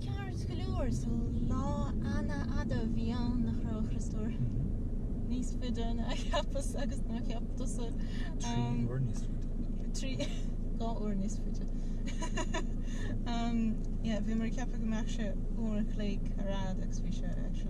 Ceart go leor, so lá an-fhada a bhí ann nach raibh a Chriostóir níos faide ná a cheapas agus ná a cheap tusa. Trí uair níos faide. Trí, dhá uair níos faide. Umm, yeah, bhí mé ag ceapadh go mbeadh sé uair an chloig ar fhad agus bhí sé actually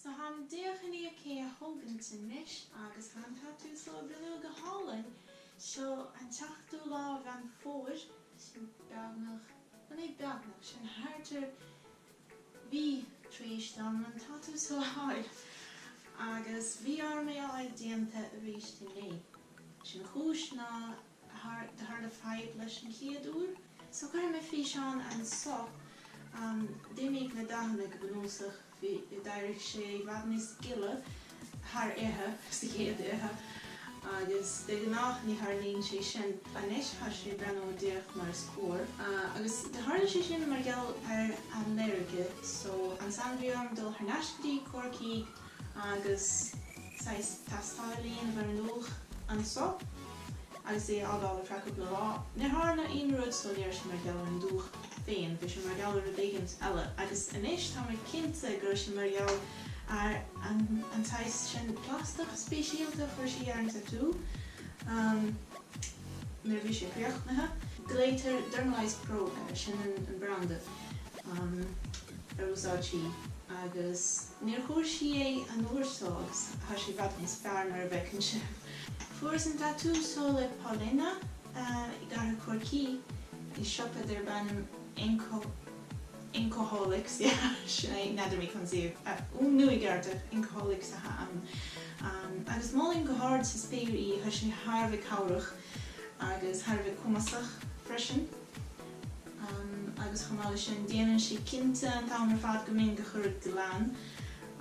So tháim díreach chun é a thógaint anois agus thá an tatú so ag breathnú go hálainn. Seo an tseachtú lá de Mheán Fómhair, sin beagnach, bhuel ní beagnach, sin thart ar mhí tar éis dom an tatú so a fháil agus bhí orm é a fháil déanta arís inné. Sé an chúis ná tharla fadhb leis an chéad uair. So cuirfidh mé físeán anso. D'imigh na dathanna go bunúsach, bhí, d'éirigh sé i bhfad níos gile thar oíche, sa chéad oíche agus de ghnáth ní tharlaíonn sé sin. Anois thá sé ag breathnú díreach mar is cóir agus do tharla sé sin mar gheall ar ailléirge. So ansan bhí orm dul thar n-ais go dtí Corcaigh. agus saghas tástáil a dhéanamh ar an ndúch anso agus é a fhágáil ar feadh cúpla lá. Níor tharla aon rud so ní raibh sé mar gheall ar an dúch féin, bhí sé mar gheall ar rud éigint eile. Agus anois tá mé cinnte go raibh sé mar gheall ar an tsaghas sin plastach speisialta a chuir sí ar an tatú nuair a bhí sé críochnaithe. Glaoitear Dermalize Pro air, sin an branda. um, ar úsáid sí agus níor chuir sí é an uair so agus thá sé i bhfad níos fearr mar a bhfeiceann sibh. Fuaireas an tatú so le Paulina i gcathair Chorcaí i siopa darb ainm Inco, Incoholics, yeah, sin é, n'fheadar mé conas é a fhuaimniú i gceart, Incoholics athá ann. Um, agus mholfainn go hard sa spéir í, thá sé thar a bheith cabhrach agus thar a bheith cumasach freisin. agus chomh maith le sin déanann sí cinnte an t-am ar fad go mbíonn gach rud glan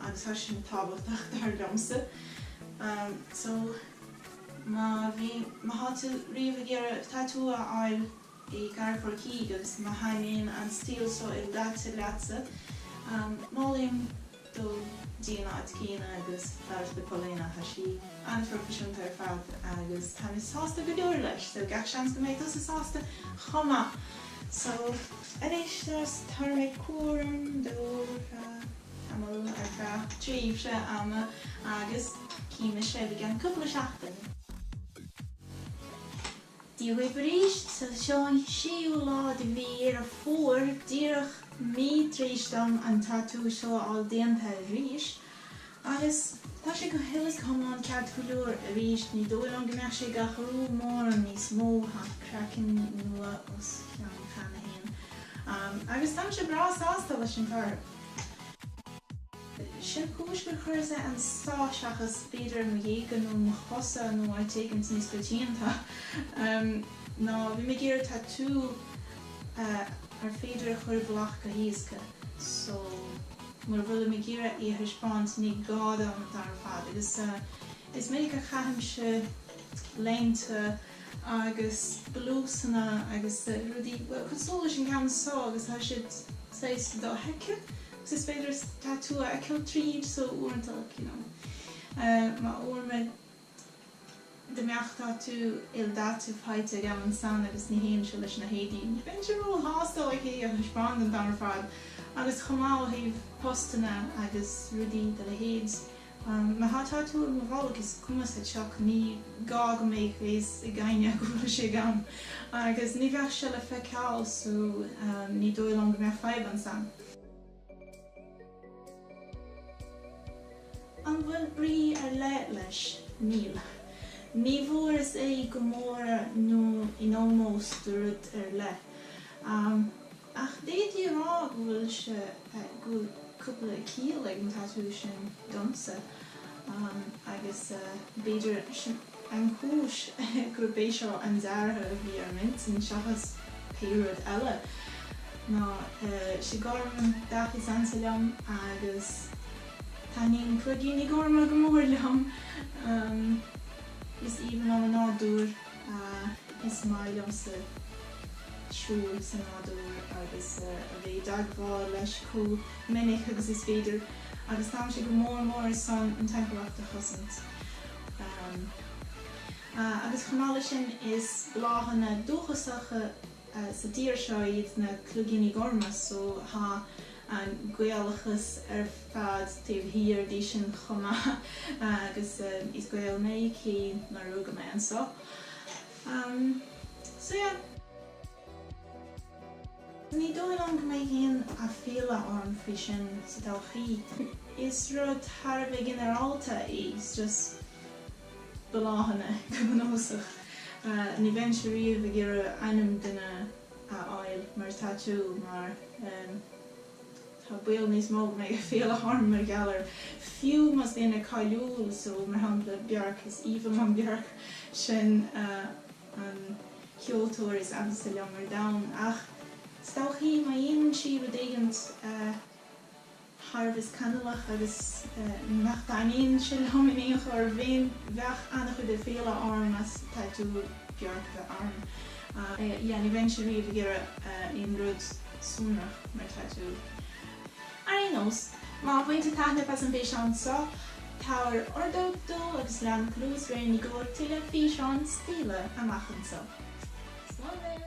agus thá sin tábhachtach dar liomsa so má bhí, má thá tú riamh ag iarraidh tatú a fháil i gcathair Chorcaí agus má thaitníonn an stíl so ildaite leatsa, mholfainn. dul dtí an áit chéanna agus fiafraí de Paulina, thá sí an-phroifisiúnta ar fad agus táim sásta go leor leis so gach seans go mbeidh tusa sásta chomh maith so anois tabharfaimid cúram dó ar feadh tamall ar feadh tréimhse ama agus cífimid sibh i gceann cúpla seachtain. Dia Dhaoibh arís! Seo an séú lá de mhí Dheireadh Fómhair, díreach mí tar éis dom an tatú seo a fháil déanta. Agus tá sé go huile is go hiomlán ceart go leor arís, ní dóigh liom go mbeidh sé ag athrú mórán níos mó, tá craiceann nua os a chionn cheana féin. Agus táimse breá sásta leis an toradh. Sé an chúis gur chuireas é annso seachas b'fhéidir ar mo ghéaga nó mo chosa nó áit éigint níos coitianta ná bhím ag iarraidh tatú ar féidir é a chur i bhfolach go héasca so mura bhfuilim ag iarraidh é a thaispeáint ní gá dom an t-am ar fad agus is minic a chaithimse léinte agus blúsanna agus rudaí cosúil leis an gceann so agus tá siad saghas dofheicthe. 'S is féidir tatú a fheiceáil tríd so uaireanta like you know má, abair, dá mbeadh tatú ildaite faighte agam ansan agus ní théann sé leis na héadaí ní bheinnse róshásta like é a thaispeáint an t-am ar fad agus chomh maith ó thaobh postanna agus rudaí dá leithéid Má tá tatú ar mo bholg is cuma sa tsioc, ní gá go mbeadh fhios ag éinne go bhfuil sé agam. Agus ní bheadh sé le feiceáil so ní dóigh liom go mbeidh fadhb ansan. An bhfuil brí ar leith leis? Níl. Ní bhfuaireas é i gcomóradh nó in ómós do rud ar leith. Ach d'fhéadfaí a rá go bhfuil sé, go bhfuil cúpla ciall ag an tatú sin domsa agus b'fhéidir an chúis gurb é seo an dearadh a bhí ar m'intinn seachas pé rud eile ná is é gorm an dath is ansa liom agus taitníonn cloigíní gorma go mór liom. Is aoibhinn liom an nádúr. Is maith liomsa siúl sa nádúr agus a bheith i dteagmháil leis comh minic agus is féidir agus táimse go mór mór ar son an timpeallacht a chosaint. Ahm. Ah agus chomh maith le sin is bláthanna dúchasacha sa tír seo iad na cloigíní gorma so thá an Gaelachas ar fad taobh thiar díobh sin chomh maith agus is Gael mé cé nar rugadh mé annso so yeah. Ní dóigh liom go mbeidh aon aiféala orm faoi sin sa todhchaí. Is rud thar a bheith ginearálta é, is just. bláthanna go bunúsach. Ní bheinnse riamh ag iarraidh ainm duine a fháil mar tatú mar tá baol níos mó go mbeidh aiféala orm mar gheall air. Fiú más duine cáiliúil so, mar shampla, Bjork, is aoibhinn liom Bjork, sin an ceoltóir is ansa liom ar domhan, ach is dóichí má dhéanann sí rud éigint. thar a bheith scannalach agus nach dtaitníonn sin liom in aon chor féin, bheadh an-chuid aiféala orm as tatú Bjork a bheith orm. Sea, ní bheinnse riamh ag iarraidh aon rud sonrach mar tatú. Ar aon nós, má bhain tú taithneamh as an bhfíseán so, tabhair ordóg dó agus lean cluas Réin i gcomhair tuilleadh físeáin stíle amach anseo. Slán!